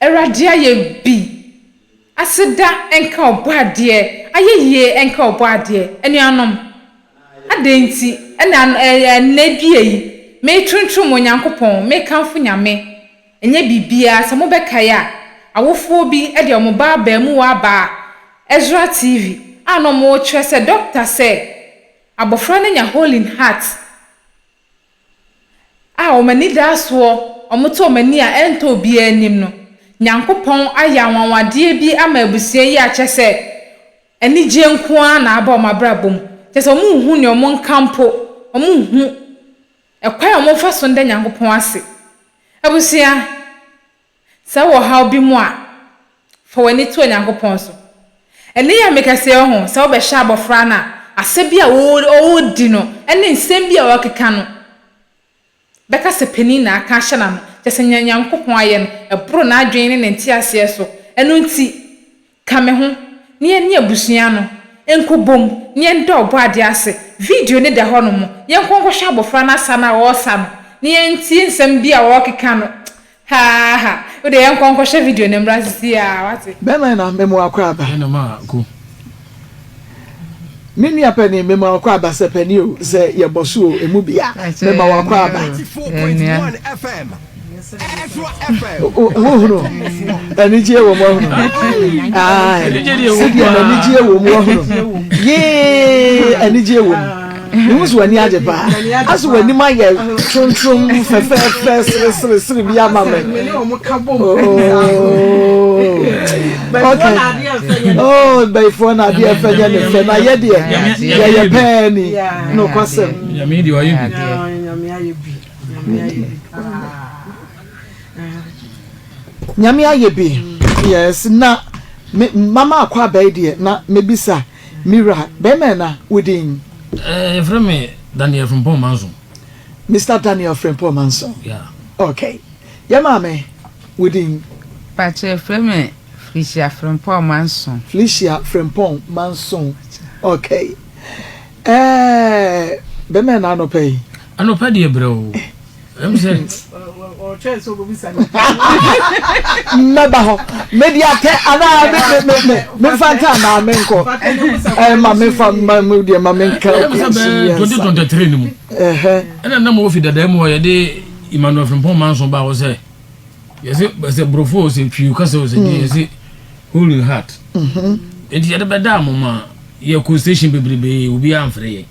Awurade ayɛ bi. Aseda nka Ɔbɔadeɛ. Ayɛyie nka Ɔbɔadeɛ. Anuanom, adɛn nti na ɛnnɛ dua yi metontom Onyankopɔn, mekamfo Nyame? Ɛnyɛ biribiara, sɛ mobɛkae a, awofoɔ bi de wɔn ba abarimuwa abaa Ezra TV a na wɔrekyerɛ sɛ dɔkta sɛ abɔfra no anya Holy Heart. a wɔn anidasoɔ, wɔto wɔn ani a ɛntɔ obiara anim no, Nyankopɔn ayɛ anwanwadeɛ bi ama abusua yi a kyerɛ sɛ anigyeɛ nko ara na aba wɔn abrabɔ mu. Kyerɛ sɛ wɔnhu nea wɔnka mpo, wɔnhu ɛkwan a wɔmfa so nda Nyankopɔn ase. Abusua, Sɛ wowɔ ɔhaw bi mu a, fa w'ani to Onyankopɔn so. Ɛno yɛ me kɛse, oho, sɛ wobɛhyɛ abɔfra no a, asɛ bi a ɔredi no ne nsɛm bi a ɔrekeka no, bɛka sɛ panin na aka ahyɛ n'ano. Kyerɛ sɛ, nea Onyankopɔn ayɛ no, ɛboro n'adwene ne ne nteaseɛ so. Ɛno nti, Ka Me Ho, na Yɛne Abusua no Nkɔbom, na Yɛnda Ɔbɔadeɛ Ase. Video no da hɔnom. Yɛnkɔ nkɔhwɛ abofra no asa no a ɔresa no, na yɛntie nsɛm bi a ɔrekeka no. Haaha. Wo deɛ yɛnkɔ nkɔhwɛ video no mmra seesei ara, woate? Bɛn na na me mmoa akwaaba? Ɛna maa ko. Me nua panin, mema w'akɔ aba sɛ panin o, sɛ yɛbɔ so o, emu bia, mema w'akɔ aba. Wohunu anigyeɛ wɔ mu ahunu. Ae, sɛdeɛ anigyeɛ wɔ mu ahunu. Yee, anigyeɛ wɔ mu. Mihu sɛ w'ani agye paa. Ase w'anim ayɛ trontrom, fɛfɛɛfɛ, sereseresere bi ama me. Oh, bayifoɔ na adeɛ fɛ nyɛ ne fɛ, na yɛ deɛ yɛyɛ pɛɛ ni. Nokwasɛm. Nyame deɛ wayɛ bi. Nyame ayɛ bi. Nyame ayɛ bi paa. Nyame ayɛ bi. Yes, na mama akɔ abɛɛ deɛ na mebisa. Me wura, bɛɛma ɛna wo din? Eh, yɛfrɛ me Daniel Frimpong Manson. Mister Daniel Frimpong Manson? Yeah. Okay. Yɛ maame, wo din? Mpakyɛ, yɛfrɛ me Felicia Frimpong Manson. Felicia Frimpong Manson. Okay. Eh, bɛɛma ɛna anɔpa yi? Anɔpa deɛ brɛoo. mmɛba hɔ mede atɛ anaa memfa nka anaa menkɔ ma memfa deɛ ma menka ɛna nam wɔ fi dadaa mu hɔ yɛde emmanuel frimpɔn manso baa hɔ sɛ yɛsɛ sɛ borɔfo o sɛ twiw kasɛ o sɛ deɛ mm. yɛsɛ holy heart mhm. nti yɛde bɛdaa mo ma yɛkɔ station bebrebee obiaa mfrɛ yɛ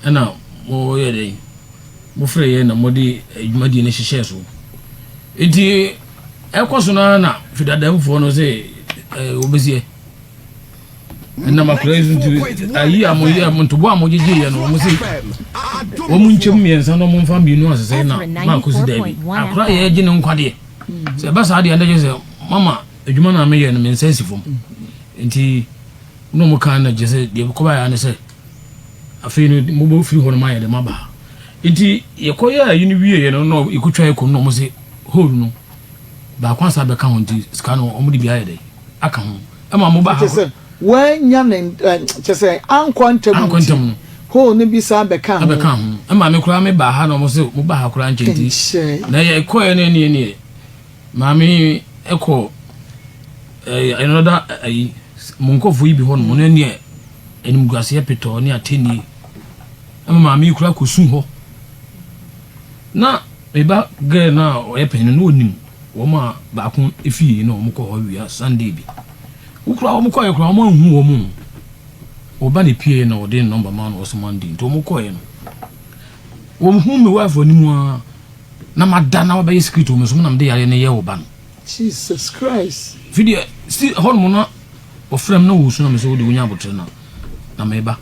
ɛna wɔyɛ dɛn mofrɛ yɛn na mode dwumadie no hyehyɛɛ so. Nti ɛkɔ so no ara na fidadamfoɔ no sɛ wɔbɛsiɛ ɛnam akora yi so nti ayi a moyɛ ntobo a mogyegyeeɛ no wɔn se wɔn nkyɛm mmiɛnsa na wɔmfa mmienu asesɛ na maako si daabi akora yɛ gye ne nkwa deɛ sɛ ɛba saa deɛ ɛndɛgye sɛ mama adwuma no a meyɛ no me nsa si fam nti na wɔn kan na gye sɛ deɛ kɔbaeɛ ne sɛ Afei no mobɔ firi hɔ nom ayɛ dɛ maba ha. Nti yɛkɔ yɛ ayi no wie yɛ no na yɛkɔ twa yɛ kom na ɔmo se hole no baako asan abɛka ho nti sika no ɔmo de bi ayɛ dɛ aka ho ɛma mo ba ha. Kyɛsɛ wannya ne kyɛsɛ ankɔ ntɛm nti. Ankɔ ntɛm no. Hole no bi san bɛka ho. Abɛka ho ɛma me koraa me ba ha na ɔmo se mo ba ha koraa nkyɛ nti. Nkyɛ. Na yɛkɔ yɛ no ɛneɛ neɛ. Maame yi kɔ ɛɛ another ayi mo nkɔfo yi bi hɔ nom ɔno ɛni animguaseɛ petɔɔ ne atɛnie ɛma maame yi kura kɔ su hɔ na meba gɛɛ no a ɔyɛ panyin no ɔnim wɔn a baako efie na wɔn kɔ hɔ wia sunday bi wokura wɔn kɔɛ kura wɔn ahu wɔn ɔba ne pie na ɔde nɔmba maa no ɔsoma ndi nti wɔn kɔɛ no wɔn hu mi wife anim a. na ma da na wabɛyɛ secret wɔ me so mu na mede yareɛ no yɛ wo ba no jesus christ fi deɛ si hɔ nom na wɔfrɛ m na wɔsu na me sɛ wode wonya abotere no na meba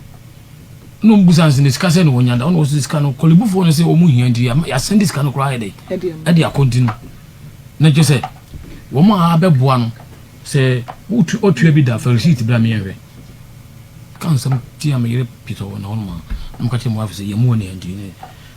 na ɔmbu sa nsɛ ne sika sɛ ne wɔnya da ɔna wɔsɛ sika no kɔlebufoɔ no sɛ ɔmu hia nti yɛasɛnde sika no koraa ɛdɛ ɛde akɔnti no na kyɛ sɛ wɔn a abɛboa no sɛ ɔtua bi da fa receipt berɛ a meyɛnhwɛ ka nsɛm tia meyere pitɔ wɔ na hɔ nom a na mka kyerɛ mu afei sɛ yɛmu wɔ ne anti ne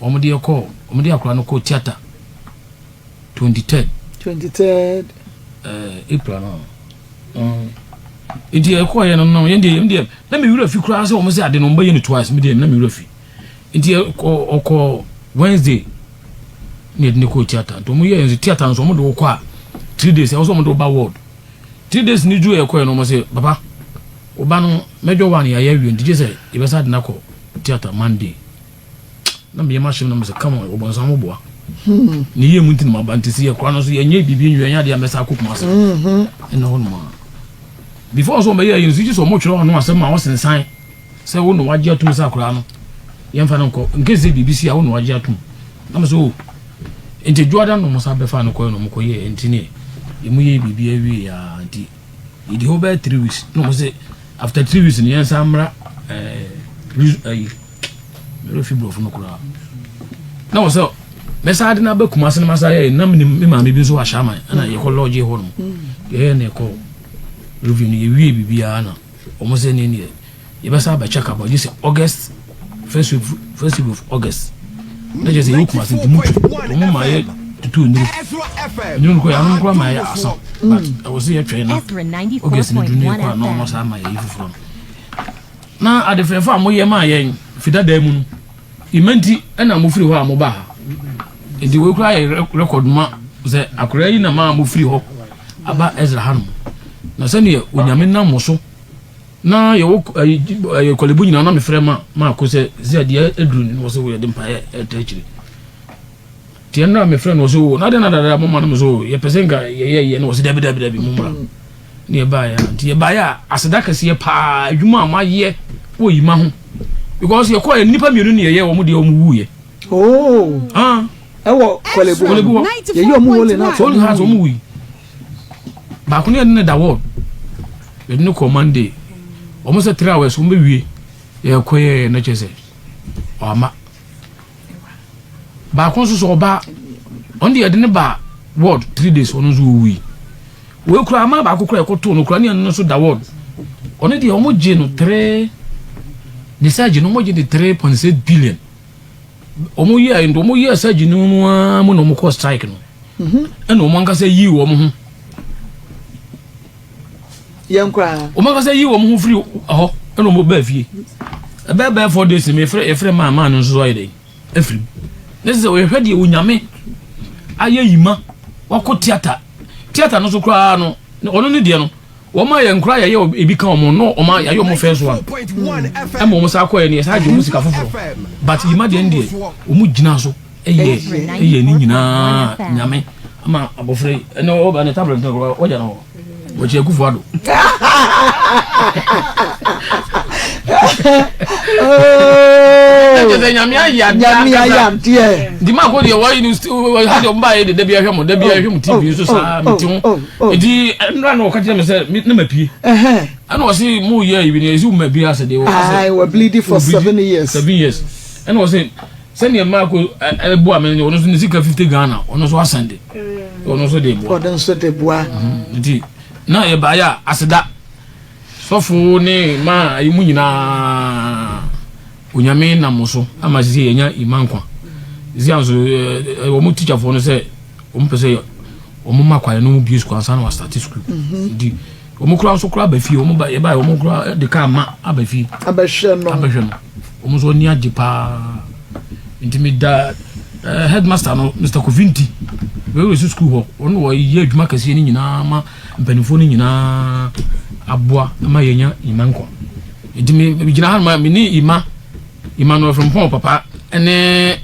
Wɔde yɛ kɔɔ wɔn de akwadaa no kɔɔ theatre twenty third. twenty third. Ɛɛ april no nti ɛkɔɔ yɛ no no yɛn deɛ yɛn deɛ na mi wura fi koraa sɛ wɔn sɛ ade no wɔn bɛ yɛ no twice mi deɛ na mi wura fi nti ɛkɔ ɔkɔ wednesday na yɛde ne kɔɔ theatre nti wɔn yɛ yɛn nso theatre nso wɔn de wɔkɔ a three days ɛwɔ sɛ wɔn de wɔba ward three days ni duru ɛkɔɔ yɛ no wɔn sɛ papa wɔba no mɛdwa wɔn a yɛ ayɛ awie nti gye sɛ yɛbɛsa ade no akɔ theatre monday. na meyɛ m'ahyɛm na mo sɛ come on ɔbɔnsam mo boa ne yie mu nti na maba nti sɛ yɛkora no nso yɛnyɛ biribi nwie ɛnyɛ adeɛ a mɛsa akɔ kuma ase ɛna hɔ nom a before nso ɔmɛyɛ yɛn nso gye sɛ ɔmotwerɛ ɔno asɛm a ɔsensan sɛ wo na wagye atom sɛ akoraa no yɛmfa no nkɔ nkɛ sɛ biribi si a wo na wagye atom na mesɛ o nti dwoada no mo sa bɛfa no kɔɛ no mokɔyɛ nti ne ɛmu yɛ biribi awie a nti Yɛdi hɔ bɛyɛ three weeks na wɔn sɛ after three weeks no yɛn nsa mmra ɛɛ ɛyi mɛrɛ fi borɔfo no koraa na wɔn sɛ mɛsa adi na abɛ kumase na ma sa yɛ na mi mi maame bi nso wɔ ahyɛn ama ɛna yɛkɔ lɔɔgye hɔ nom yɛyɛ na ɛkɔ review no yɛwie biribiara na. Wɔn sɛ ne neɛ yɛbɛsan abɛkyɛ kabɔ gye sɛ August first week first week of August na kyerɛ sɛ yɛwɔ Kumasi nti mutu wɔn ma yɛ tutu nnuru nnuru kɔ yɛ ano kora ma yɛ asa but ɛwɔ sɛ yɛtwɛn na August no duru ne yɛkɔ a na wɔn asan ma yɛ yi foforɔ no na adefɛɛfo a moyɛ maa yɛn fidadaa mu no Ima nti na mofiri hɔ a mobaa ha. Enti wei koraa yɛ rekɔd ma sɛ akoraa yi na maa mofiri hɔ aba Ɛsra hanom. Na sɛdeɛ Onyame nam mo so na yɛwɔ ɛyɛ kɔlebu nyinaa na mefrɛ ma maako sɛ sɛ adeɛ aduru ne wɔ sɛ wɔyɛde mpaeɛ ɛta akyire. Deɛ no na mefrɛ no ɔsɛ o na adɛn na dada mo ma no mo sɛ o yɛpɛ sɛ nka yɛyɛ yɛ no ɔsɛ dabi dabi dabi mo mmra ne yɛbaeɛ a nti yɛbaeɛ a aseda kɛseɛ paa adwuma a moayɛ wɔ yima ho because yɛkɔɛ nnipa mmienu ne yɛyɛ wɔn deɛ wɔn wuiɛ oh ah ɛwɔ kɔlebu kɔlebu hɔ yɛyɛ wɔn wole na wɔn ha wɔn wui baako ne yɛde ne da wɔn yɛde ne kɔ monday wɔn sɛ three hours wɔn bɛ wie yɛkɔɛ na kyɛ sɛ ɔama. Baako nso so ɔbaa ɔno deɛ yɛde ne baa ward three days ɔno nso ɔwui wei kura ama baako kura ɛkɔtoo no kura ne ɛno nso da ward ɔno deɛ wɔn gye no three ne surgery no wɔn gye de three point six billion wɔn yi a wɔn yi a surgery no mu ara mu na wɔn kɔ strike no mhm. ɛna wɔn ankasa yi wɔn ho. yɛn koraa. wɔn ankasa yi wɔn ho firi hɔ ɛna wɔn baa fie ɛbɛɛ bɛɛ four days mi efrɛ efrɛ maa maa no nso ayɛ dɛ efiri mu ne sɛ wɔyɛ hwɛ deɛ onyame ayɛ yi ma wakɔ theatre theatre no so koraa no ɔno ne deɛ no wɔn a yɛn koraa yɛyɛ ebi ka wɔn no wɔn a yɛayɛ wɔn fɛn so a ɛma wɔn sa akɔ yɛ no yɛ sa agye wɔn sika foforɔ but yi ma deɛ no deɛ wɔn gyina so. Ɛyɛ ɛyɛ ne nyinaa nyame ama abɔfra yi ɛnna ɔba ne tablet no kora ɔgya no wɔkyɛ kufu ado. ɛkyɛ sɛ nyame ayɛ adeɛ nti ma ko deɛ wɔyi no ha deɛ ɔmba yɛ de dabi ahwɛ mo dabi ahwɛ mo tv so saa mete ho ɛti ɛnora na ɔka kyerɛ me sɛ ne ma pie ɛna ɔse mo yɛ ayi bi ne ɛsi wo ma bi asɛ deɛ wɔ asɛ wɔ bleedi for seven years seven years ɛna ɔse Sɛdeɛ Mark boa me no ɔno nso ne sika fifty Ghana ɔno nso asɛnde ɔno nso de boa. Ɔno nso de boa. Nti na yɛ baayɛ a aseda sɔfo ne ma ayi mu nyinaa onyame nam mo so ama sisi yɛnya ima nkwa. Sisi anso wɔn teacherfoɔ no sɛ wɔn pɛ sɛ wɔn ma kwae no mu bie sukuu ansa na wɔastate sukuu. Nti Wɔn koraa nso koraa aba fie wɔn ba yɛba wɔn koraa de kaa ma aba fie. Abɛhwɛ no. Abɛhwɛ no. Wɔn nso ani agye paa. Nti mi da ɛɛ eh, headmaster no Mr Kofi Nti wɛwɛ si sukuu hɔ wɔn na wɔyɛ adwuma kɛseɛ no nyinaa ma mpanimfoɔ no nyinaa aboa ma yɛnya ima nkwa. Nti mi gyina ha ma mi ne ima Emmanuel Frimpong papa ɛne.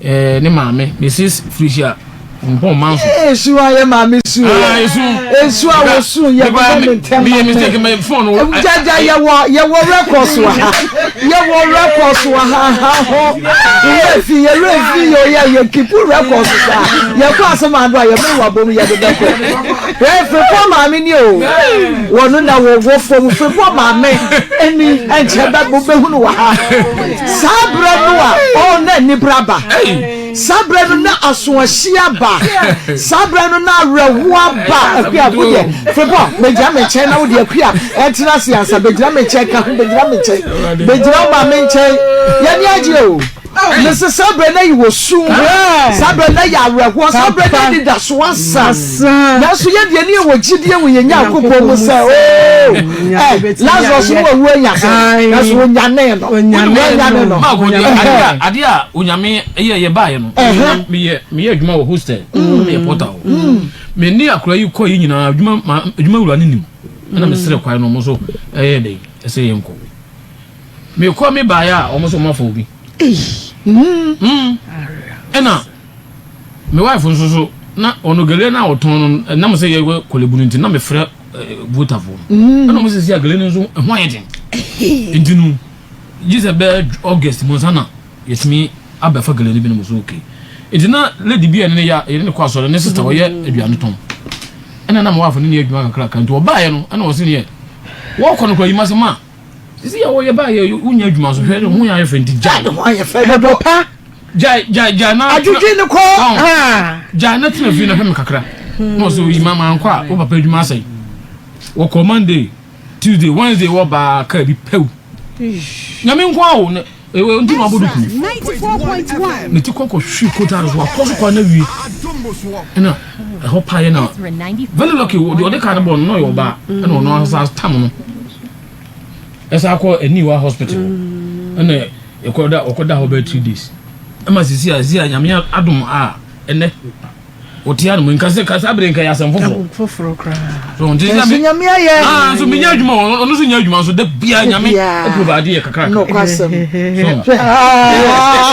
Eh, ne maame, Mrs. Felicia Frimpong Manso. Eh, esu a yɛ maame su. Ah, esu. Esu a wɔ su yɛ bɔ mi ntɛm. Mi yɛ mistake mi phone. Jaja yɛ wɔ yɛ wɔ records wɔ ha. Yɛ wɔ records wɔ ha ha ho. Yɛ fi yɛ wura fi yɛ yɛ yɛ kipu records sa. Yɛ kɔ asem ado a yɛ mi wɔ bom yɛ de bɛ kɔ. Yɛ Frimpong maame ni o. Wɔn na wɔ wɔ fam Frimpong maame ɛni ɛnkyɛ bɛ bɔ bɛ hunu wɔ ha. Saa berɛ no a, oh, na anibere aba. Saa berɛ no na asoɔhye aba. Saa berɛ no na awerɛhoɔ aba. Akua, wo deɛ, febɔ, bɛgyina me nkyɛn na wo deɛ, akua, ɛntena ase ansa. Bɛgyina me nkyɛn, ka ho, bɛgyina me nkyɛn. Bɛgyina wo maame nkyɛn. Y'ani agye o. Mese saa berɛ no na yɛwɔ sum. Saa berɛ no na yɛ awerɛhoɔ. Saa berɛ no na anidasoɔ asa. saa. Nanso yɛn deɛ, ne yɛwɔ gyidie wɔ yɛn Nyankopɔn mu sɛ, oh, eh, Lazarus no wawu anya sɛ, nanso wɔnyanee no. Wɔanyane no. Maa bɔdeɛ adeɛ a Ɛhɛn. adeɛ a onyame yɛ yɛ baayɛ no Ɛhɛn. na meyɛ meyɛ adwuma wɔ hostel na meyɛ porter o me ne akora yi kɔ yi nyinaa adwuma ma adwuma wura no nim ɛna mesrɛ kwae no ɔmo so ɛyɛ dɛ ɛsɛ yɛn kɔ mekɔ me baayɛ a ɔmo so ɔmo afa obi mm ɛna Me wife nso so, na ɔno gele no a ɔtɔn no, ɛnam sɛ yɛwɔ Korle Bu no nti, na mefrɛ Votafoɔ no. Ɛna ɔmo sisi a gele no nso ɛho ayɛ den. Nti no, gye sɛ bɛyɛ August mu ansa na yɛtumi abɛfa gele no binom so. Okay. Nti na lady bi a yɛne no yɛ, yɛne no kɔ asɔre, ne sister ɔyɛ aduane tɔn. Ɛna na me wife ne no yɛ adwuma kakraka. Nti ɔbaeɛ no, ɛna ɔse neɛ wɔɔkɔ no koraa, yi m'asɛm a. sisi yɛ wɔyɛ ba yɛ wonya adwuma so hwɛ ne ho yɛ ayɛ fɛ nti gyae ne ho ayɛ fɛ ɛbɔ pa gyae gyae gyae na adwodwe ne kɔ gyae na tena fie na hwɛ me kakra na ɔsɛ oyi mama ankɔ a wo papa adwuma asɛe wɔkɔ monday tuesday wednesday wɔbaa kaa bi pɛw nyame nko awo Ewe nti na wabɔ no kunu. Ne ti kɔkɔ hwi kota no so wakɔ so kwan na wie. Ɛna ɛhɔ pa yɛ na. Very lucky o de ɔde kaa no bɔ no na ɔyɛ ɔbaa. Ɛna ɔno asa tam no. Ɛsa akɔ aniwa hospital. Ɛna ɛkɔ da ɔkɔ da hɔ bɛ three days. Ɛma sisi a sisi a nyame adom a ɛnɛ. Wotia no mu nka sɛ kasa bere nka yɛ asɛm foforo. Foforo koraa. So nti sɛ me. Nyame ayɛ. Ah so menya adwuma ɔno nso nya adwuma nso da bia Nyame provide yɛ kakra. No kwasɛm. So. Ah.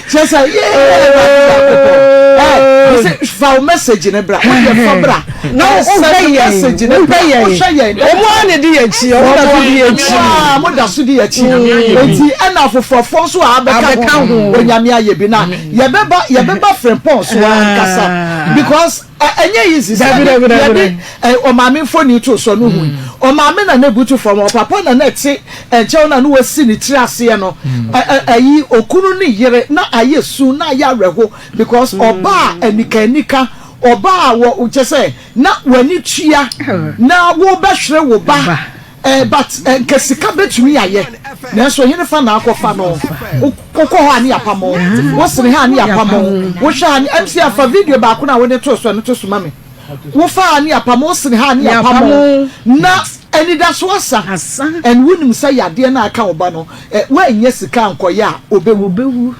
kyerɛ sɛ yee awurade nyankopɔn ɛ ɔsɛ fa wo message ne bra wodeɛ fa bra na wosɛne message ne bra wohwɛ yɛn ɔmo a na ɛdi yɛn akyi ɔmo na ɛdi yɛn akyi a mo da so di yɛn akyi eti ɛna afoforɔfoɔ nso a abɛka ho onyame ayɛ bi na yɛbɛba yɛbɛba frempɔn so ankasa because Ɛ ɛnyɛ yi nsi sɛ deɛ yɛde ɛ ɔmaame mfoni too soɔ no hui. Ɔmaame na na ɛbutu fam, ɔpapa na na ɛte nkyɛn na na wasi ne tiri aseɛ no. Ɛ ɛ ɛyi okunu ne yere na ayɛ su na ayɛ awerɛho because ɔbaa anikaanika, ɔbaa wɔ kyerɛ sɛ na w'ani tua na worebɛhwere wo ba. Eh but nka sika bɛtumi ayɛ nanso hene fa na akɔ fa no wo kɔ hɔ a ne yapa mo wo sene ha a ne yapa mo wo hwɛ ha ne MC a fa video baako no a wode too so ɛno to so ma me wo fa ha ne yapa mo wo sene ha a ne yapa mo na anidaso asa and wo nim sɛ yadeɛ no a ɛka wo ba no eh woanyɛ sika ankɔyɛ a ɔbɛwu.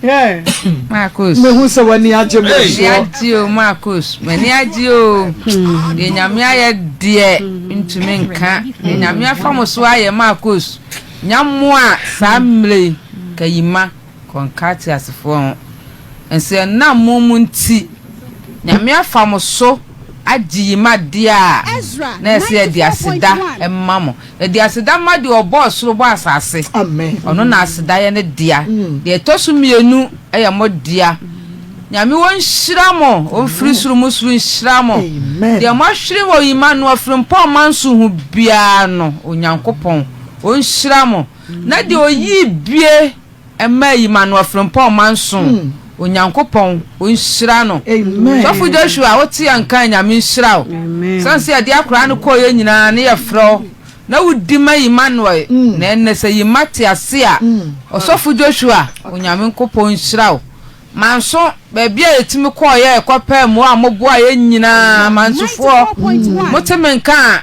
Hey, Marcos. Mehu sɛ w'ani agye mo M'ani soɔ. agye o Marcos. M'ani agye o. Deɛ Nyame ayɛ deɛ ntumi nka. Deɛ Nyame afa mo so ayɛ Marcos. Nya mmoa saa mmerɛ yi. Kayima, Kɔnka teasefoɔ ho. Ɛnso ɛnam mo mu nti Nyame afa mo so. agye yi ma deɛ a na ɛsɛ yɛde aseda ma mo. Yɛde aseda ma deɛ ɔbɔɔ soro bɔɔ asase. Ɔno na aseda yɛ ne dea. Deɛ ɛtɔ so mmienu yɛ mo dea. Nyame ɔnhyira mo, ɔmfiri soro mu soro nhyira mo. Deɛ moahwere wɔ yi ma no afirimpɔ mma nso ho biara no, Onyankopɔn ɔnhyira mo. Na deɛ ɔyii bie. Mma eyi ma no afirmpɔn mma nson Onyankopɔn nhyira no Sɔfo Joshua a wote anka Nyame nhyira wo San sɛ yɛde akora no kɔɔ yɛ nyinaa ne yɛ frɛ wo na wodi ma Emmanuel na ɛnnɛ sɛ yi mma te ase a Ɔsɔfo Joshua Onyame nkopɔn nhyira wo Manso baabi a yɛtumi kɔɔ yɛ kɔ pɛɛ mmoa a mo boa yɛ nyinaa Mansofoɔ mote me nka a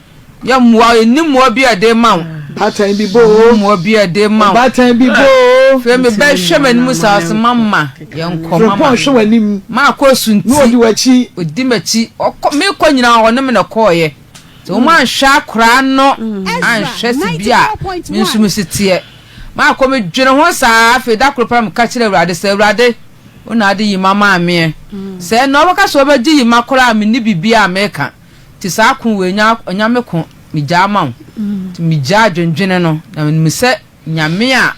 Yɛ mmoa o, nni mmoa bi a yɛde rema wo. Ɔbaatan bi bɔ o. Nni mmoa bi a yɛde rema wo. Ɔbaatan bi bɔ o. Afei meba hwɛ m'anim saa ɔse mama yɛnkɔ mama. Frimpong hwɛ w'anim. Maakɔ asunti. Na ɔdi w'akyi. Ɔdi m'akyi. Ɔkɔ meekɔ nyinaa ɔne me na ɛkɔeɛ. Sɛ wɔn anhwɛ akoraa no anhwɛ sɛ bi a me nso me si teɛ. Maakɔ medwene ho saa afei da koro paa meka kyerɛ Awurade sɛ Awurade wo na ade Yima maameɛ. Sɛ ɛnna ɔbɛka sɛ ɔbɛgye Yima koraa a menni biribiara a meka. Nti saa ko wei nya Onyame ko megyaa ma wo Nti megyaa dwendwene no Na menim sɛ Nyame a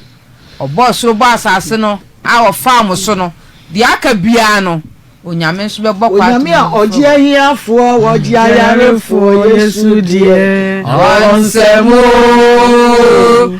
ɔbɔɔ soro bɔɔ asase no A ɔfaa mo so no Deɛ aka biara no Onyame nso bɛbɔ kwa ato Onyame a ɔgye ahiafoɔ Ɔgye ayarefoɔ Yesu deɛ ɔnsɛ mo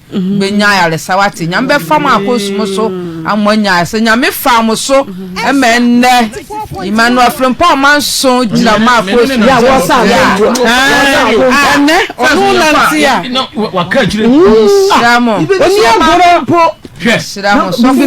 bɛ nya ayaresa wate nyame bɛ fa mo akɔ sumu so ama mo anya ayaresa nyame fa mo so ɛmɛ nnɛ Emmanuel Frimpong ma nso gyina mo akɔ sumu ya wɔ sa ya ɛnɛ ɔno nanti ya waka akyire sira mo oni agorɔ mpo Nhyira mo sɔfo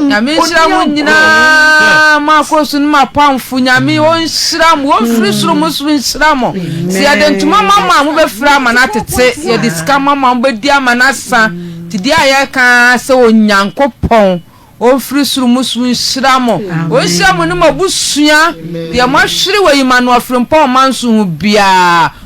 nyame nhyira mo nyinaa mo akɔsu no mo apamfo nyame ɔnhyira mo ɔmfiri soro mo soro nhyira mo sɛ yɛde ntoma ma mo a mobɛfiri ama no atete yɛde sika ma mo a mobɛdi ama no asa nti deɛ a yɛka sɛ onyankopɔn ɔmfiri soro mo soro nhyira mo ɔnhyira mo ne mo abusua deɛ moahwere wɔ yi ma no afirimpɔ ɔma nso ho biara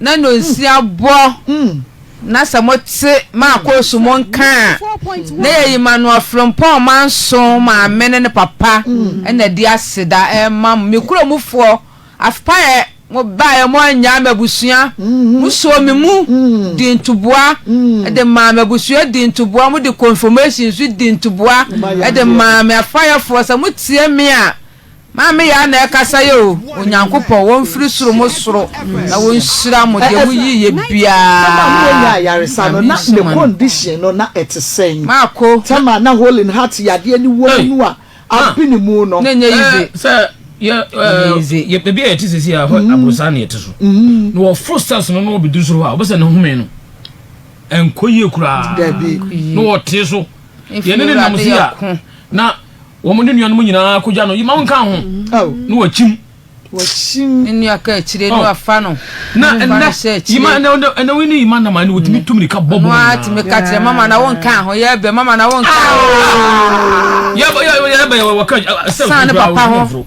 na nonsia bɔ na sɛ mo te maakoosu mo nka a na yɛyi ma no afrempɔn ma nso maame ne ne papa na di aseda ɛma mo me kuro mu foɔ afpaɛ mo baeɛ mo anyaa me abusua mo soo me mu di ntoboa de maa me abusua di ntoboa mo de confirmation nso di ntoboa de maa me afpaeɛfoɔ sɛ mo tie me a Maame yɛ a na ɛkasa yɛ o Onyankopɔn wɔ mfiri soro mo soro na wɔ nhyira mo deɛ mo yii yɛ biaa Nyame nhyira mo adom. Maako. Oi na ɛnyɛ yize. Mfiri awurade yɛ ko. Wɔn ne nuanom nyinaa kogya no, yoma wo nka ho, na wɔakyim. Wɔakyim. Ne nua kaakyire no afa no. Na ɛnɛ, yoma ɛnɛ wo ne yoma nam a, na wɔtumi tu mirika bɔ bɔn nyinaa. Wɔn a tumi ka kyerɛ mama na wɔnka ho, yɛbɛ mama na wɔnka ho. Yɛbɛ yɛbɛ wɔka sɛ. San ne papa ho.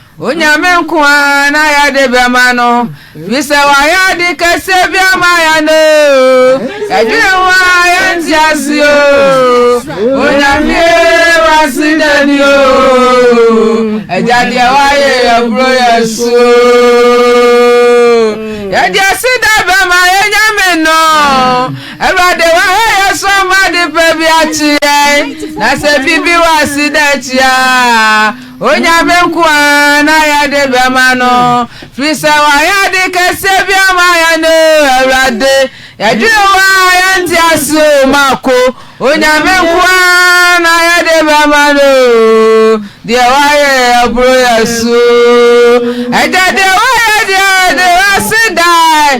Onyame nko ara na yɛde bɛma no, fisɛ wayɛ ade kɛseɛ bi ama yɛn oo, yɛdwene ho a yɛnte ase oo, Onyame ee wase dani oo, Agya deɛ wayɛ yɛboro yɛ so oo, yɛde aseda bɛma yɛ Nyame no, Awurade wahɛ yɛ so ama ade pa bi akye yɛn, na sɛ bibi wase da akyi a. Onyame nkoaa na yɛde bɛma no Firisɛ wayɛ ade kɛseɛ bi ama yɛn o Awurade Yɛdwene wo a yɛnte ase o Mako Onyame nkoaa na yɛde bɛma no Deɛ wayɛ aboro yɛso o Agya deɛ wayɛ deɛ yɛde w'ase daa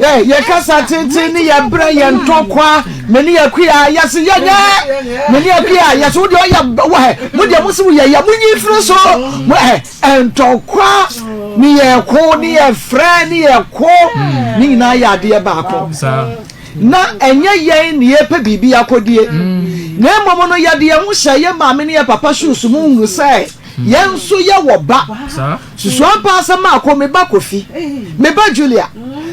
Yɛ yɛ kasa tenten ne yɛ brɛ yɛ ntɔkwa me ne yɛ kuya yɛ se yɛ nyɛ me ne yɛ kuya yɛ se wo deɛ ɔyɛ wɔ hɛ mo deɛ mo se wo yɛ yɛ mo nyi firi so mo hɛ ntɔkwa ne yɛ ko ne yɛ frɛ ne yɛ ko ne nyinaa yɛ adeɛ baako na ɛnyɛ yɛn ne yɛ pɛ biribi akɔdie na mmom no yɛde yɛn ho hyɛ yɛ maame ne yɛ papa shoes mu hunu sɛ yɛn nso yɛ wɔ ba. Susuampa asɛm maako, me ba Kofi, me ba Julia,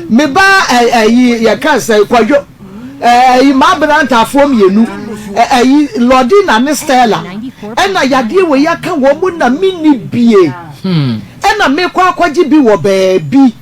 me ba eh, ayi, yɛka nsɛn, Kwadwo, eh, ayi, m'aberantafoɔ mmienu, eh, ayi, Lordina ne Stella, ɛna yadeɛ wei aka wɔn mu na menni bie, hmm. ɛna mekɔ akɔgye bi wɔ baabi,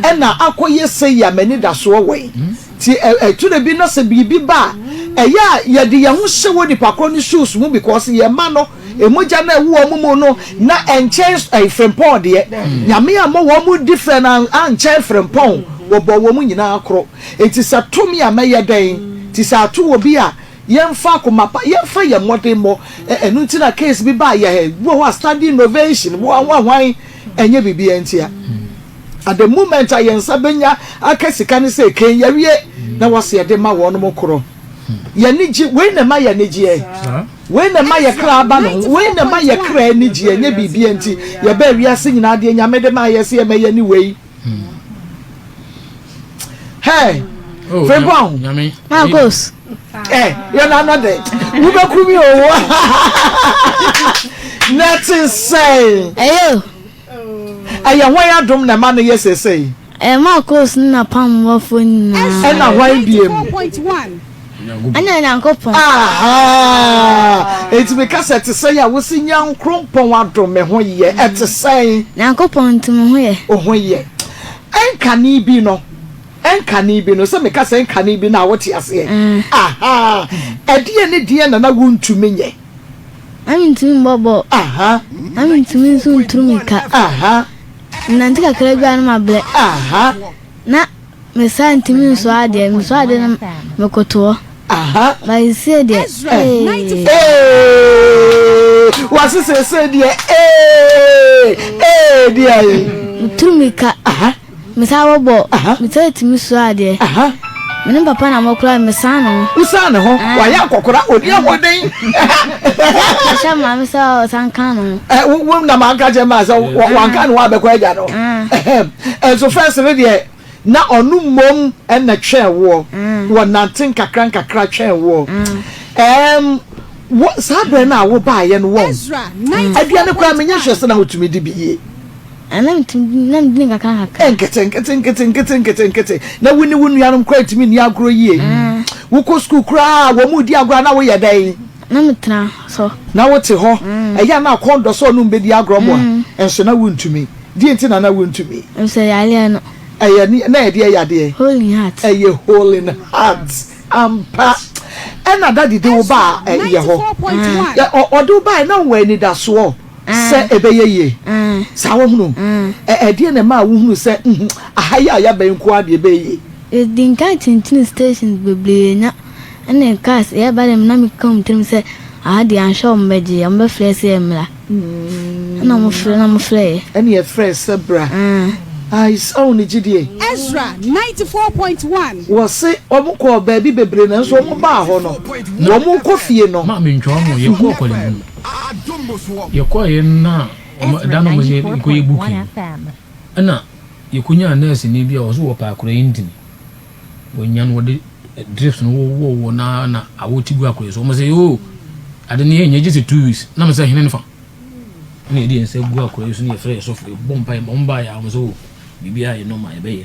ɛna akɔyɛ sei a m'ani da soɔ wɔ yi. Hmm. Ti ɛtwerɛ bi na sɛ biribi ba a, ɛyɛ a yɛde yɛn ho hyɛ wɔ nipa korɔ ne shoes mu because yɛn ma no Mogya no a ɛwɔ wɔn mu no na ɛnkyɛn frimpɔn deɛ. Nyame ammɔ wɔn mu different ankyɛn frimpɔn, wɔbɔɔ wɔn nyinaa koro. Enti sɛ to me a mɛyɛ dɛn? Te sɛ ato obi a yɛmfa akoma pa, yɛmfa yɛn mmɔden mmɔ. Ɛno nti na case bi baa yɛn ha, ebi wɔ hɔ a standing innovation, hwan wa hwan, ɛnyɛ biribiara ntia. At the moment a yɛn nsa bɛnya aka sika no sɛ kɛn yɛawie na wɔse yɛde ma wɔnom koro. Yɛn ani gye, wei na ɛma yɛn ani gyeɛ. Wei na ɛma yɛ kra ba ne ho. Wei na ɛma yɛ kra ani gye. Ɛnyɛ biribiara nti. Yɛbaa wiase nyinaa deɛ Nyame de maa yɛ sɛ yɛmmɛyɛ ne wei. Hey! Frimpong! Marcos! Eh, yɛ nana dɛ. Wobɛku mi o. Na ɛte sɛn? Ɛyɛ o. Ɛyɛ hwan adom na ɛma no yɛ seesei? Ɛma Kos ne n'apammɔfoɔ nyinaa. Ɛna hwan deɛ mu? Ɛna Nyankopɔn. Ahaa! Enti meka sɛ, ɛte sɛn a wose Nyankrompɔn adom me ho yɛ? Ɛte sɛn? Nyankopɔn nti mo ho yɛ. Wo ho yɛ. Ɛnkane bi no, ɛnkane bi no, sɛ meka sɛ ɛnkane bi no a, wote aseɛ? Ahaa! Ɛdeɛn ne deɛn na na wontumi nyɛ? Na mentumi mmɔ bɔɔl. Ahaa. Na mentumi nso ntu mmirika. Ahaa. Menante kakra bi a na mabrɛ. Na me saa ntumi nsoa adeɛ, mesoa adeɛ no mekoto hɔ. Ba seesei deɛ ee. Wase seesei deɛ ee ee deɛ ee. Meturu mmirika, mesan bɔbɔ, mesan tumi soa adeɛ. Me ne papa na mokora me san ne ho. Wo san ne ho wayɛ akɔkora odi ahoɔden. Ka kyerɛ maame sɛ ɔsan ka ne ho. Wo na maa nka kyerɛ maa sɛ wanka ne ho abɛkɔ agya no. Nso first no deɛ na ɔno mmom na twɛn woɔ wɔ nante nkakra nkakra twɛn woɔ ɛɛm wo saa berɛ no a wo baayɛ no wɔn aduane koraa menyɛ hwɛ sɛ na wotumi di bi yie. Nketenketenketenketenketenketenkete, na wo ne wo nuanom koraa ntumi nni agorɔ yie. Wokɔ sukuu koraa a, wɔn redi agorɔ a, na woyɛ dɛn? Na metena so. Na wote hɔ. Ɛyɛ a na akɔn dɔ sɛ ɔne wo bɛdi agorɔ mmoa, nso na wontumi. Deɛn nti na na wontumi? Efisɛ yareɛ no. Ɛyɛ ne, na ɛyɛ deɛ yadeɛ? Holding heart. Ɛyɛ holding heart. Ampa. Ɛna Daddy de wo baa ɛyɛ hɔ. Ɔde wo baeɛ, na wowɔ anidasoɔ. sɛ ɛbɛyɛ yie. Saa wahunu? Ɛ ɛdeɛn na ɛmaa wohunuu sɛ nhu aha yi a yɛaba yi nko ara deɛ ɛbɛyɛ yie? Yɛdii nkan tintinii stations bebree na ɛne cars yɛreba deɛ na meka wɔ me tirim sɛ aha deɛ anhwɛ a wɔbɛgye yɛn, wɔbɛfrɛ sɛ yɛmmra. Ɛna wɔfrɛ na wɔfrɛ yɛn. Ɛne yɛfrɛɛ sɛ bra. Ae saa wo ne gyidie. Ezra ninety four point one. Wɔse wɔkɔɔ baabi bebree nanso wɔbaa hɔ no wɔnkɔ fie no. Maame ntwa wɔn o, yɛkɔɔ kɔlɛbun. Yɛkɔeɛ no na wɔn ɛda no wɔn yɛ nkɔ yɛ booking ɛna yɛkɔ nyaa nurse ni bi a ɔso wɔ paa kura intini wɔn nya no wɔde drips no wɔ wɔ wɔ na na awɔ ti gu akura so wɔn sɛ yoo ade ne yɛ nyɛ gyesɛ two weeks na mɛ sɛ hene ne fa ɛna yɛde yɛn sɛ gu akura so ne yɛfrɛ yɛ sɔfo yɛ bɔ mpa yɛ ma wɔn ba yɛ a wɔn sɛ o biribi a yɛ nɔma yɛ bɛyɛ.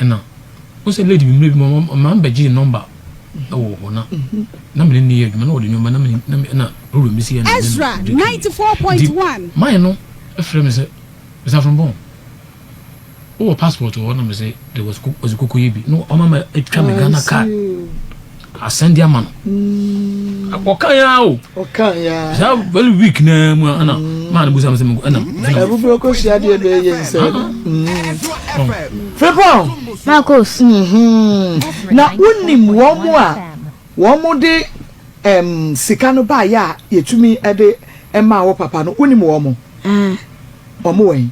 Ɛna wohu sɛ lady bi mmerɛ bi mu ɔma ɔma mbɛgyee nɔmba wɔ hɔ na na mene ne yɛ adwuma na wɔde nneɛma na mene na me na problem bi si yɛ na mene Ezra no de kii ninety four point nti one. man no frɛ me sɛ Mr Afrompong wowɔ passport wɔ hɔ na me se there was ko was koko yɛ bi na ɔma ma atwa me I Ghana card see. Asan di ama no. Mm. Ɔkan ya o. Ɔkan ya. Sa very weak na mu ana. Mm. Ma no busa me se me ana. Ebu bro ko sia de be ye nse. Frepon. Na ko. Mhm. Na wonim wo mo a wo mo de em sika no ba ya yetumi de ɛma wo papa no wonim wo mo. Eh. Wo mo wɛn.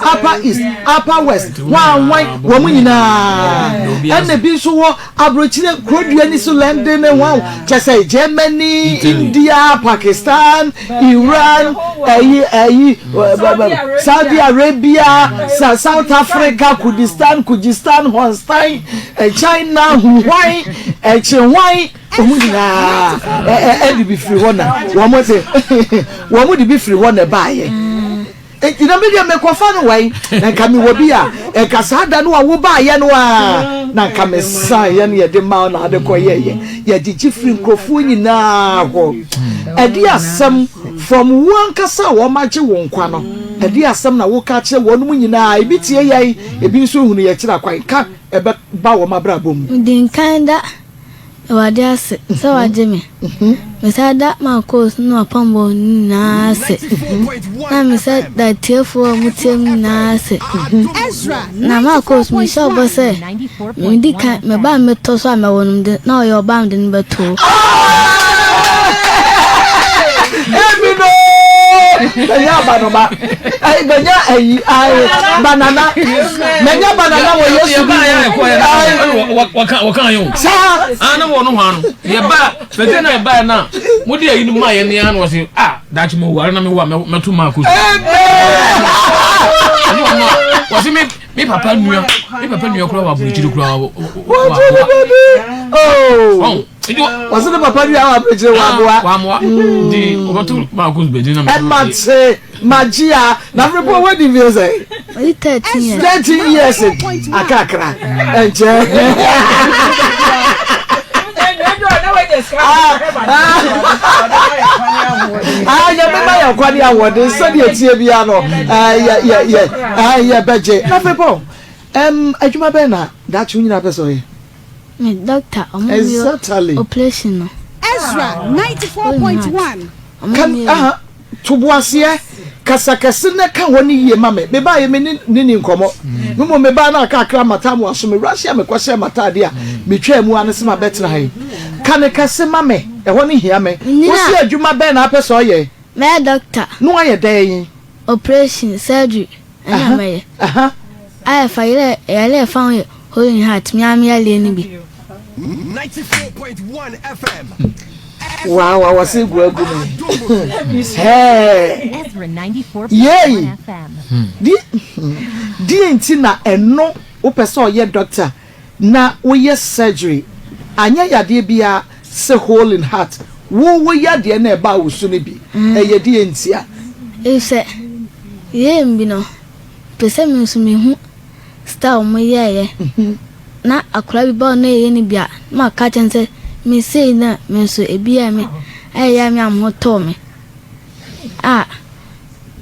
Upper East, Upper West, hwan hwan, wɔn nyinaa. Ɛna ebi nso wɔ aburokyire kuro dua ni so London ne hwan, kyɛ sɛ Germany, India, Pakistan, Iran, ɛyi ɛyi, Saudi Arabia, South Africa, Kurdistan, Kyrgyzstan, Honstan, China, hwan, ɛkye hwan, wɔn nyinaa ɛde bi firi hɔ na wɔn de wɔn de bi firi hɔ na ɛbaayɛ. Enti na me deɛ mekɔfa no wai? Na nka mewɔ bi a, nka saa da no a wobaeɛ no ara na nka mesaeɛ na yɛde maa wo na wode kɔyɛeɛ. Yɛgyegye firii nkurɔfoɔ nyinaa hɔ. Ɛdeɛn asɛm fam? Wo ankasa a wɔagye wo nkwa no, ɛdeɛn asɛm na woka kyerɛ wɔnom nyinaa? Ebi tie yɛn, ebi nso hunu yɛn kyerɛ kwan. Ka ɛbɛba wɔn abrabɔ mu. Din Kan Da. Awurade ase sɛ wagye me. Mesan da m'akooso ne m'apammɔ no nyinaa ase, na mesan da atiefoɔ a wɔtie me nyinaa ase. Na m'akooso mehyɛ ɔbɔ sɛ, medi kan, me ba a mɛtɔ so a mɛwo no de, na ɔyɛ ɔbaa a mede no bɛto hɔ. Ayi bɛnya ayi ayi banana bɛnya banana wɔ Yesu bi mu. Saa. Ana wɔ no hɔ ano yɛ ba bɛtɛ na yɛ ba na mo de ayi no ma yɛ ne ano wɔ se ah daakye mo ware na me wa mɛto ma akosu. Ɛno ɔno a wɔsi mi mi papa nua mi papa nua kura wɔ aburukyiri kura wɔ wɔ wɔ. wɔsi ne papa ni awa abirikyire ah, wamoa. wamoa hmm. di ɔbɛto baako bedi na. ɛma se magyia na mmerɛ bɔ wadi mfie sɛ. ɔyi thirteen years. thirteen years akakra ɛnkyɛ. nyame ma yɛ kwane ahoɔden sɛdeɛ tie bia no yɛbɛgye na mepɔ adwuma bɛɛ na daakye wo nyina pɛ sɛ ɔyɛ Me doctor ɔmo mio operation no. Ezra ninety four point one. Ka aha, toboaseɛ, kasa kɛse na ka hɔ no yie ma me. Me baeɛ me ne ne ni nkɔmmɔ. Me mmom me baa na aka akra mmata mo aso. Me wura hyɛɛ me kɔhyɛɛ mmata adeɛ a me twaa mu ara ne sɛ ma bɛtena ha yi. Ka no kɛse ma me, ɛhɔ no hia me. Wo se adwuma bɛn na apɛ sɛ ɔyɛ? Mɛyɛ doctor. Na wayɛ dɛn? Operation, surgery, na mɛyɛ a ɛfa yere yare a ɛfa ho yɛ holding heart me ara me yareɛ no bi. Waa waa wɔse gu agu me hɛɛ yei di deɛ nti na ɛno wopɛ sɛ ɔyɛ doctor Na wo yɛ surgery anyɛ yadeɛ biaa se hole in heart wo wo yadeɛ na ɛbaa wo so no bi ɛyɛ deɛ ntia. Efisɛ yɛɛ me bi no mepɛ sɛ me nso mehu style mo yɛɛyɛ na akwadaa bi ba hɔ na yɛyɛ no bi a na maka akyerɛ no sɛ me sei na me nso ebi yɛɛ me a ɛyɛ a me a me ho tɔɔ me a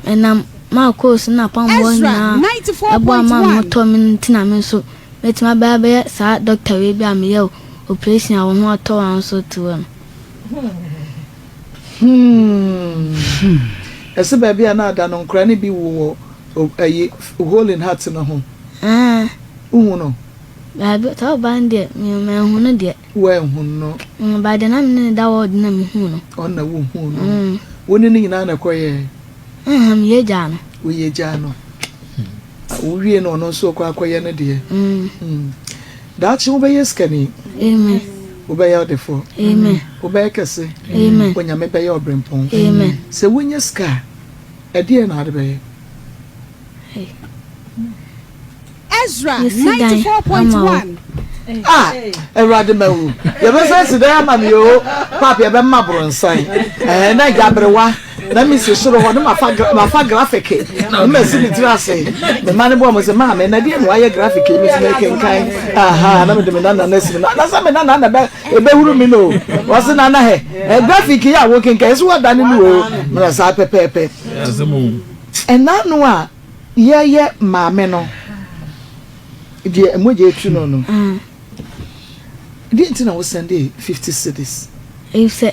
ɛnam m'akɔɔ su na apammɔ nyinaa ɛboa ma me ho tɔɔ me no nti na me nso Mɛtumi abɛyɛ abɛyɛ saa dɔkta wei bere a meyɛɛ oprehyɛn a wo ho atɔ wo ahosuo tewɛ no. Hmm. Ɛse baabi a na ada no nkora no bi wo wɔ ayi hole in heart no ho. Ɛɛ. Wohu no? Baabi, saa ɔbaa no deɛ, me manhu no deɛ. Woanhu no? Mm, baa deɛ na me ne no da wɔɔd na mehu no. Ɔno na wohu no? Mm. Wo ne no nyinaa na ɛkɔyɛɛ? Ɛha, meyɛ gyaa no. Woyɛ gyaa no. Ah wowie na ɔno nso ɔkɔ akɔyɛ ne deɛ. Mm. Daakye wobɛyɛ sikani. Amen. Wobɛyɛ ɔdefoɔ. Amen. Wobɛyɛ kɛse. Amen. Onyame bɛyɛ ɔbrempɔn. Amen. Sɛ wonya sika a, ɛdeɛ na ade bɛyɛ? Ezra ninety four point one. Ah, Awurade ma wu. Yɛbɛsɛ si dɛn ama me o. Papi ɛbɛma boronsan. Ɛɛ na gyaberewa. Na misi soro hɔ na mafa mafa graphic na masi me tiri ase me ma ne boa mo sɛ maame na deɛ na wayɛ graphic yi metumi akenkan aha na mede me nana no asi me na anasɛ me nana na ɛbɛhuru me no wɔse nana hɛ eh, graphic yi a wokenkan ɛsɛ wɔdane no o mena saa pɛpɛɛpɛ ɛna no a yɛyɛ maame no deɛ mogya atu no no mm. deɛ nti na wosɛn de 50 cities ɛfɛ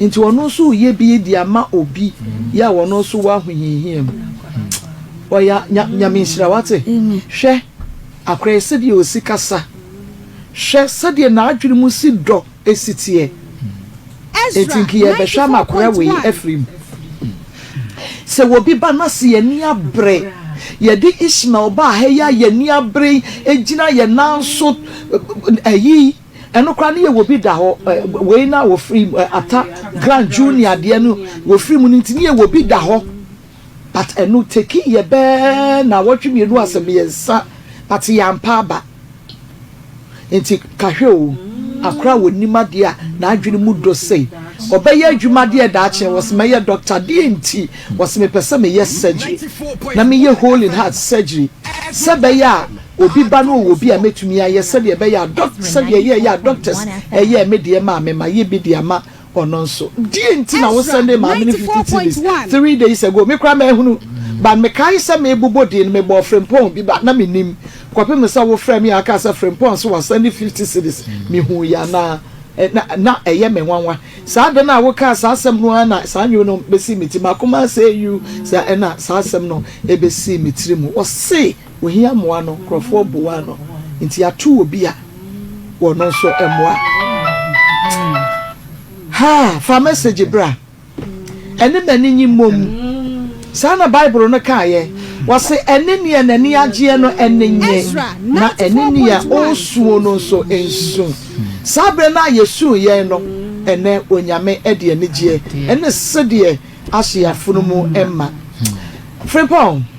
Nti ɔno nso reyɛ bi de ama obi yɛ a ɔno nso wɔ ahohiahia mu. Ɔya nya nyame nhyira wate. Hwɛ akora yi sɛdeɛ ɔsi kasa. Hwɛ sɛdeɛ n'adwene mu si dɔ si teɛ. Nti nka yɛbɛhwɛ ama akora wei afiri mu. Sɛ obi ba na sɛ yɛn ani abere. Yɛde Ishmael baa ha yi a yɛn ani abere gyina yɛn nan so ayi. Ɛno koraa ne yɛ wɔ bi da hɔ eh, wei na wɔ firi mu eh, ata grand junior adeɛ no wɔ firi mu no nti ne yɛ wɔ bi da hɔ but ɛno tekii yɛ bɛɛ na wɔtwe mmienu asɛ mmiɛnsa but yɛ ampa aba nti kahwɛ o akora wɔ nim adeɛ a na adwene mu dɔ sei ɔbɛyɛ adwuma adeɛ daakye wɔ sɛ mɛyɛ doctor adeɛ nti wɔ sɛ mepɛ sɛ meyɛ surgery na meyɛ whole in heart surgery sɛ bɛyɛ a Obi ba no ɔwɔ bi a mɛtumi ayɛ sɛdeɛ ɛbɛyɛ a dɔk sɛdeɛ yɛɛyɛ a doctors ɛyɛɛ me deɛ maa me ma yɛ bi de ama ɔno nso deɛ nti na wo sɛndee maame no fifty cedis three days ago me koraa mahunu but mekae sɛ mebobɔ din no mebɔɔ Frimpong bi but na mennim kɔpem sɛ wo frɛɛ me a wokaa sɛ Frimpong nso wasɛnde fifty cedis mehuuiɛ anaa na na ɛyɛ me nwanwa saa da no a wokaa saa asɛm no ara na saa nnwom no bɛsii me ti m'akoma asɛe you saa ɛna saa asɛm no ɛbɛsii me tiri mu ɔse Ohia mmoa no, nkurɔfoɔ boaa no, enti yɛato obi a ɔno nso mmoa. Haa, fa message bra. Ɛne m'ani nnye mmom. Saa na Bible no kaeɛ. Wɔse, Ɛne neɛ n'ani agyeɛ no ani nnye, na ɛne neɛ ɔresuo no nso nsu. Saa berɛ no a yɛsuu yɛn no, ɛnnɛ Onyame de anigyeɛ ne sedeɛ ahyɛ yɛn afono mu ma. Frimpong,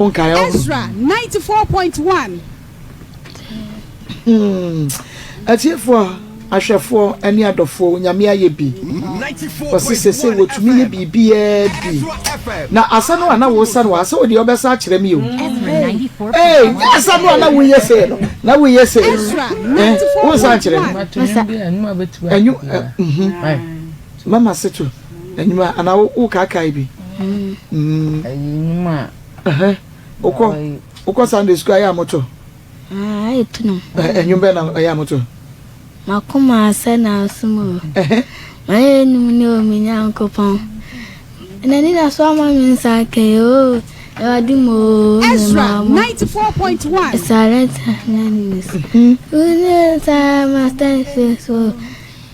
Ezra ninety four point one. Atiefoɔ, ahwɛfoɔ, ne adɔfoɔ, Onyame ayɛ bi. Ɔse sese wɔtumi yɛ biribiaa bi. Na asa no a na wosa no a, se wodeɛ wobɛsa akyerɛ me o. Ee, nyɛ asa no a na woyɛ sei no, na woyɛ sei no. Wonsa nkyerɛ me. Enyo, eh, mhm. Mama se to. Enyima ana wo wo kaakaa bi. Mm. Ayi enyima. Ɛhɛn. Okɔ okɔ Sunday school ayɛ amoto. Ah, ayɛ tunu. Enyim bɛ na ayɛ amoto. Makoma asɛ na asum o. Ɛhɛn. Mayɛ enum ne o me Nyankopɔn. Na ni na so ama me nsa kɛ o. Ewade mo o me Ezra 94.1. Silent na ni ne so. Une sa master face o.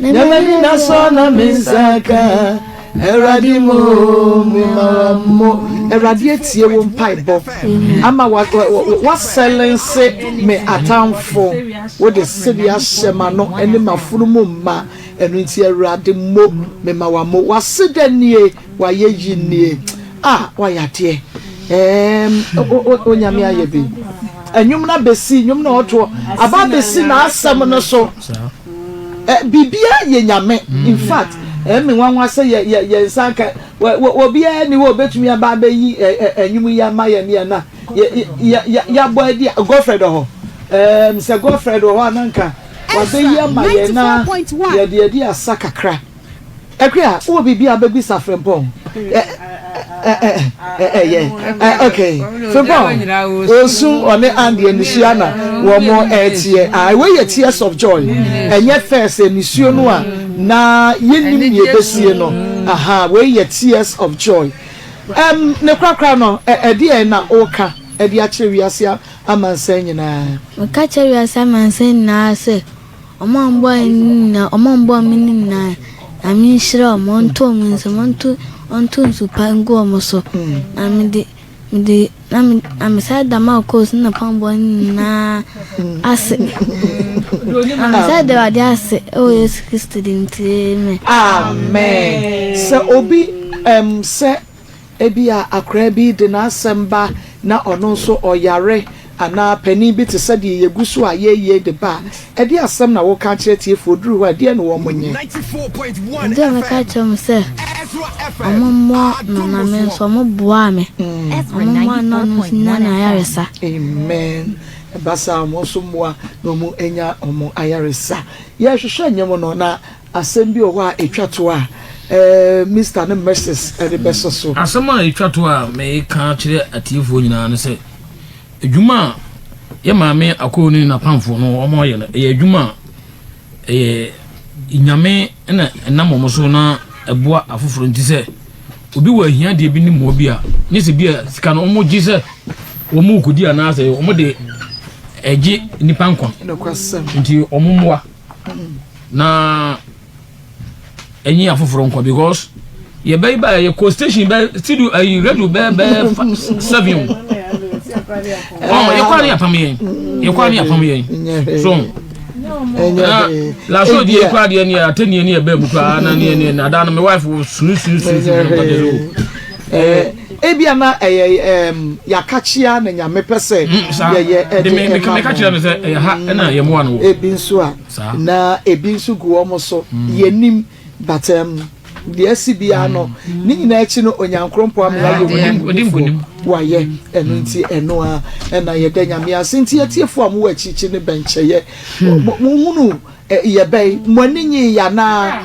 Nyɛ m'ani na sɔ na me nsa ka Awurade mo mema mo. Awurade atie wo mpaebɔ ama woasɛlense me atamfo Wode sɛbi ahyɛ m'ano ne m'afunumu mma Ɛno nti Awurade mo mema mo. W'aseda nie. Wayɛ yi nie ah wayɛ adeɛ eemm o Onyame ayɛ bi Nnwom no abɛsi nnwom no ɔtoɔ aba abɛsi n'asɛm no so eh Biribiara yɛ Nyame in fact eh me nwanwa sɛ yɛ yɛ yɛn nsa nka wɔ obiara ni hɔ a ɔbɛtumi aba abɛyi eh nnwom yi ama yɛn yɛn a yɛ yɛ yɛ yɛabɔ adi a Godfred wɔ hɔ eemm sɛ Godfred wɔ hɔ a na nka wabɛyi ama yɛn na yɛde adi asa kakra. Ɛkwe a, wowɔ biribi a wobɛbisa Frimpong? Ɛ, ɛ, ɛ, ɛ, ɛyɛ. Ɛ, ok. Frimpong, ɔresu, ɔne Andy anisua na wɔreteɛ. Ae, wei yɛ tears of joy. Ɛnyɛ first anisuo no a na yɛnnim nea ɛbɛsie no. Aha, wei yɛ tears of joy. Ɛm, ne korakora no, ɛ, ɛdeɛn na woreka de akyerɛ wiase amansan nyinaa? Meka kyerɛ wiase amansan nyinaa sɛ. Wɔn a wɔboa yɛn no nyinaa, wɔn a wɔboa me no nyinaa, Nyame nhyira wɔn, ɔnto wɔn nsam, ɔnto ɔnto nsu pa ngu wɔn so. Na me de me de na me na me sa da ma kɔɔs na pambɔ no nyinaa ase. Na me sa da Awurade ase ɛwɔ Yesu Kristo din nti, amen. Amen. Sɛ obi ɛm sɛ Ebia akwadaa bi de n'asɛm ba na ɔno nso ɔyare, anaa panin bi te sɛ deɛ yɛgu so a yɛrewie de ba a, ɛdeɛn asɛm na woka akyerɛ tiefoɔ? Ɛduru hɔ a, ɛdeɛn na wɔnyɛ? Ɛdeɛ a mɛka akyerɛ wɔn sɛ, Wɔmmɔ me ma me nso, wɔboaa me. Wɔmmoa na wɔn nso nnya no ayaresa. Amen. Ɛba saa a, wɔn nso mmoa na wɔnya wɔn ayaresa. Yɛrehwehwɛ nnwom no, na Asɛm bi wɔ hɔ a etwa to a Mister ne Mrs. rebɛso so. Asɛm a etwa to a mereka akyerɛ atiefoɔ nyinaa ne sɛ, adwuma a yɛn maame Akoo ne n'apamfoɔ no wɔayɛ no, ɛyɛ adwuma a ɛyɛ Nyame na ɛnam wɔn so na ɛboa afoforɔ nti. Sɛ obi wɔ ahiadeɛ bi ne mmoa bi a, nyɛ sɛ bi a sika no wɔgye sɛ wɔkɔdi anaasɛ wɔde gye nnipa nkwa nti wɔmmoa. na ɛnyi afoforɔ nkɔ because yɛbɛyi ba yɛ kɔ station bɛ studio ɛyi eh, radio bɛ bɛ fa seven o ɔ yɛkɔ ani apam yɛn yɛkɔ ani apam yɛn so na laso di ekura deɛ ni ate ni ni ɛbɛn mu kura na ni ni na dan mi wife wo sunu sunu sunu sunu nkɔjɛ so. Ebia na ɛyɛ yɛakakyea na Nyame pɛ sɛ yɛyɛ de ma mo. Ebi nso a, na ebi nso gu wɔn so. Yɛnnim, but deɛ asi biara no, ne nyinaa akyi no Onyankrompɔn ama yɛayɛ wɔn mu nnifoɔ. Wayɛ, ɛno nti ɛno ara na yɛda Nyame ase. Nti atiefoɔ a mowɔ akyirikyiri no bɛnkyɛeɛ, monhunuu. Yɛ bɛn? Mo ani nyii yɛ anaa?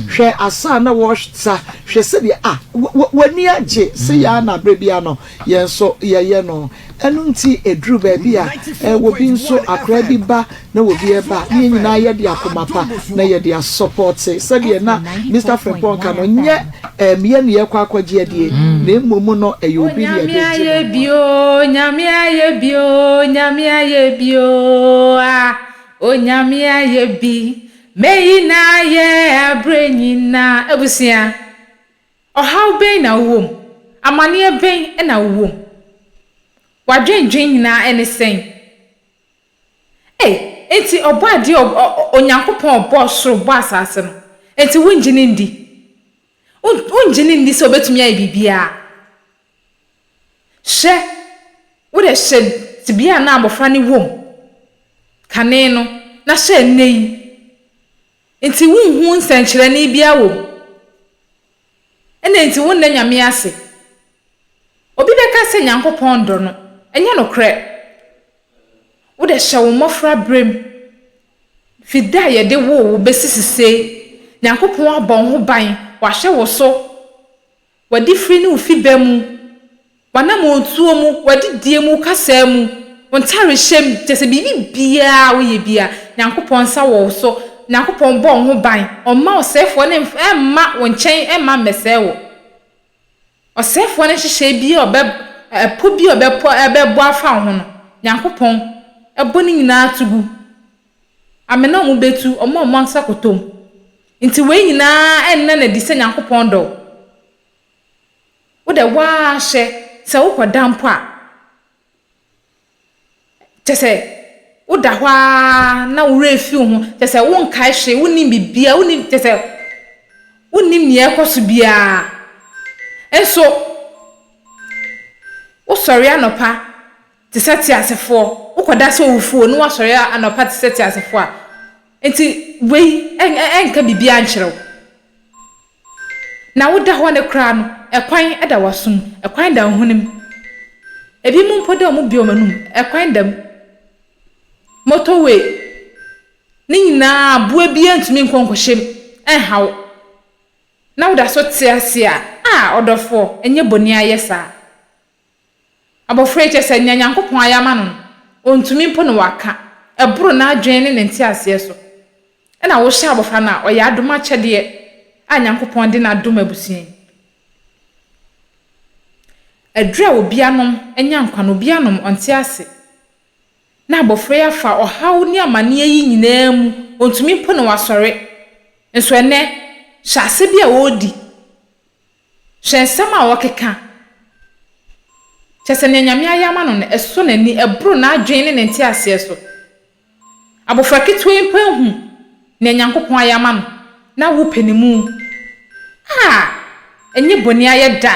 Hwɛ asa a na wɔsa, hwɛ sɛdeɛ, ah, w'ani agye sɛ yɛ ara na berɛ biara no yɛn nso yɛyɛ no. Ɛno nti ɛduru baabi a, obi nso, akwadaa bi ba na obi reba a, ne yɛn nyinaa yɛde akoma pa na yɛde asɔpɔte. Sɛdeɛ na Mister Frimpong ka no, nyɛ me yɛ na yɛrekɔ akɔgye adie, na mmom no ɛyɛ obi na yɛde regye no nkwa. Nyame ayɛ bi oo, Nyame ayɛ bi oo, Nyame ayɛ bi oo, ah. Onyame ayɛ bi, meyi no ayɛ aberɛ nyinaa. Abusua, ɔhaw bɛn na wowɔ mu? Amaneɛ bɛn na wowɔ mu? W'adwendwen nyinaa ne sɛn? Ei, enti Ɔbɔadeɛ a ɔ, ɔ, Onyankopɔn a Ɔbɔɔ soro, Ɔbɔɔ asase no, enti wongye no ndi? Wo, wongye no nni sɛ Ɔbɛtumi ayɛ biribiara? Hwɛ, wode hyɛ tebea a na abofra no wom kane no na hyɛ nnɛ yi. Enti wunhu nsɛnkyerɛnne biara wom. Ɛna enti wonna Nyame ase. Obi bɛka sɛ Nyankopɔn ndɔ no. Ɛnyɛ nokorɛ. Wode hyɛ wo mmɔfra berɛm. Fi da a yɛde woo wo bɛsi sisei, Nyankopɔn abɔ wo ho ban, wahwɛ wo so. W'adifiri ne wo fibɛ mu, w'anamɔntuo mu, w'adidie mu, wo kasaa mu, wo ntarehyɛ mu, kyerɛ sɛ biribi biara a woyɛ biara, Nyankopɔn nsa wɔ wo so, Nyankopɔn bɔ wo ho ban, Ɔmma ɔsɛefoɔ no mma wo nkyɛn mma mmɛsɛe wo. Ɔsɛefoɔ no nhyehyɛeɛ biara a ɔbɛ, ɛpɔ biara a ɔbɛpɔ, ɛbɛbɔ afa wo ho no, Nyankopɔn bɔ ne nyinaa to gu. Amena a wɔbɛtu, wɔn a wɔasa kɔtɔm. Nti wei nyinaa nna no adi sɛ Nyankopɔn dɔ wo. Wodɛ woaa hwɛ, sɛ wokɔda mpo a, kyɛsɛ woda hɔ aa na wo werɛ fi wo ho, kyɛsɛ wonkae hwee, wonnim biribiaa, wonnim, kyɛsɛ wonnim neɛ ɛɛkɔso biaa. Nso, wosɔre anɔpa. te sɛ teasefoɔ, wokɔda sɛ owufoɔ na woasɔre anɔpa te sɛ teasefoɔ a, enti wei ɛnka biribiara nkyerɛ wo. Na woda hɔ no koraa no, ɛkwan da w'aso mu, ɛkwan da wo hwene mu. Ebinom mpo de wɔbue wɔn anom, ɛkwan da mu. Motorway, ne nyinaa aboa biara ntumi nkɔ nkɔhyɛ mu nha wo, na woda so te ase a, ah ɔdɔfoɔ, ɛnyɛ bɔne ayɛ saa. Abofra yi, kyerɛ sɛ, nea Nyankopɔn ayɛ ama no no, ontumi mpo na waka. Ɛboro n'adwene ne ne nteaseɛ so. Ɛna wohyɛ abofra no a, ɔyɛ adom akyɛdeɛ a Nyankopɔn de no adom abusua yi. Aduro a obi anom anya nkwa no, obi anom, ɔnte ase. Na abofra yi afa ɔhaw ne amaneɛ yi nyinaa mu, ontumi mpo na wasɔre. Nso ɛnnɛ, hyɛase bi a ɔredi, Hwɛ nsɛm a ɔkeka! Kyerɛ sɛ, nea Nyame ayɛ ama no no, ɛsɔ n'ani, ɛboro n'adwene ne ne nteaseɛ so. Abofra ketewa yi mpo ahu nea Nyankopɔn ayɛ ama no, na wopɛ ne mu. Ah! Ɛnyɛ bɔne ayɛ da.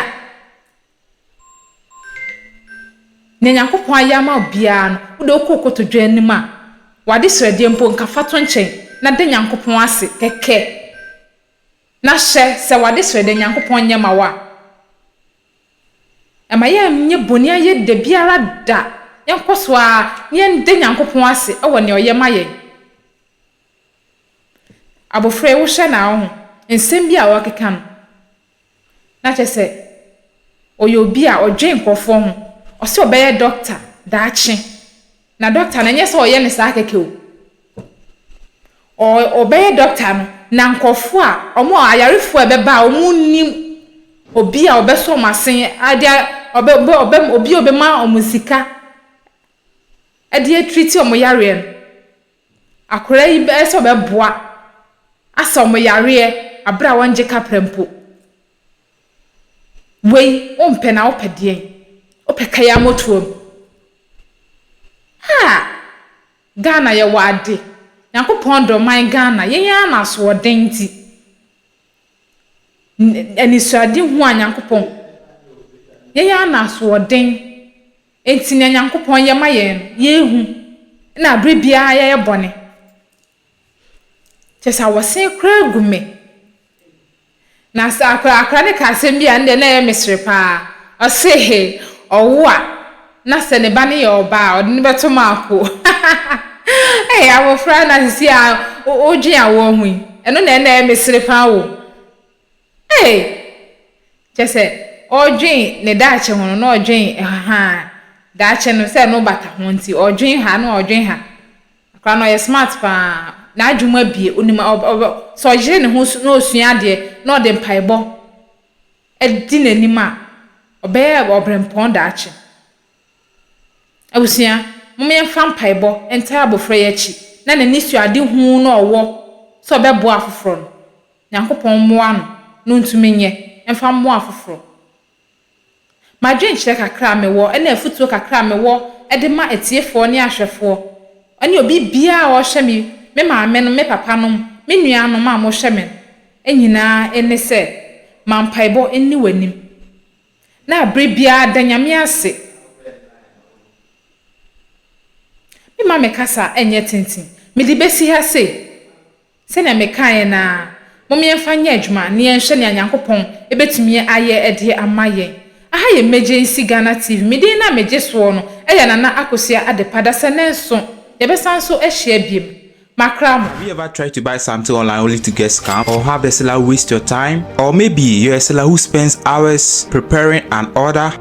Nea Nyankopɔn ayɛ ama wo biara no, wo deɛ wokɔ wo kotodwe anim a, w'adesrɛdeɛ mpo nka fa to nkyɛn, na da Nyankopɔn ase kɛkɛ. Na hyɛ sɛ w'adesrɛ dɛ Nyankopɔn nyɛ ma wo a, mma yɛnnyɛ bɔne ayɛ da biara da, yɛnkɔ so ara na yɛnda Nyankopɔn ase wɔ nea ɔyɛ ma yɛn. Abofra yi, wohwɛ no a, wohu nsɛm bi a ɔrekeka no, na kyerɛ sɛ ɔyɛ obi a ɔdwen nkurɔfoɔ ho, ɔse ɔbɛyɛ dɔkta daakye. Na doctor no ɛnyɛ sɛ ɔyɛ no saa kɛkɛ o. Ɔ ɔbɛyɛ doctor no na nkorɔfoɔ a ɔmo a ayarefoɔ a ɛbɛba a ɔmo nnim obi a ɔbɛsɔ ɔmo asen ɛde a ɔbɛ ɔbɛ ɔbɛ obi a ɔbɛma ɔmo sika ɛde atreat ɔmo yareɛ no. Akwadaa yi bɛyɛ sɛ ɔbɛboa asa ɔmo yareɛ aberɛ a wɔngye kapra mpo. Wei wo mpɛ na wo pɛ deɛn? Wo pɛ ka ya motoa mu. Haa! Ghana yɛ wɔ ade. Nyankopɔn dɔ man Ghana. Yɛn ara na asoɔden nti. Anisɔade hu a Nyankopɔn. Yɛn ara na asoɔden nti nea Nyankopɔn yɛ ma yɛn no yɛn hu. Ɛna abre biara yɛ yɛ bɔne. Kyerɛ sɛ awosen koraa gu me. Na sɛ akora akora no ka asɛm bi a, ɛno deɛ na ɛyɛ me sere paa. Ɔse he, ɔwo a, na sɛ ne ba no yɛ ɔbaa a, ɔde no bɛto maako. Ei, abofra na sisi a wodwen awoɔ ho yi, ɛno na ɛna ɛyɛ me sere paa o. Ei, kyerɛ sɛ ɔredwen ne daakye ho no, na ɔredwen ɛhahaa. Daakye no, sɛ ɛno bata ho nti, ɔredwen ha na ɔredwen ha. Akra no ɔyɛ smart paa n'adwem abie onim ɔb ɔb sɛ ɔyere ne ho so na ɔsua adeɛ na ɔde mpaebɔ adi n'anim a ɔbɛyɛ ɔbrɛmpɔn daakye abusua mom yɛmfa mpaebɔ ntaa abɔfra yi akyi na n'ani sua ade huu na ɔwɔ sɛ ɔbɛboa afoforɔ no Nyankopɔn mmoa no na ɔntumi nyɛ mfa mmoa afoforɔ M'adwenkyerɛ kakra a mewɔ ne afotuo kakra a mewɔ de ma atiefoɔ ne ahwɛfoɔ ne obi biara a ɔhwɛ me, me maame nom, me papa nom, me nua nom a mohwɛ me no nyinaa ne sɛ, ma mpaebɔ nni w'anim na berɛ biara da Nyame ase. Me mma me kasa nyɛ tenten, mede bɛsi ha sei. Sɛnea mekaeɛ no ara, mom yɛmfa nyɛ adwuma na yɛnhwɛ nea Nyankopɔn bɛtumi ayɛ de ama yɛn. Aha yɛ Megye Nsi Ghana TV, me din no a megye soɔ no yɛ Nana Akosua Adepa, Dasɛnɛnso yɛbɛsan nso ahyia biom. Makra mo. Have you ever tried to buy something online only to get scammed or have the seller waste your time? Or maybe you're a seller who spends hours preparing an order,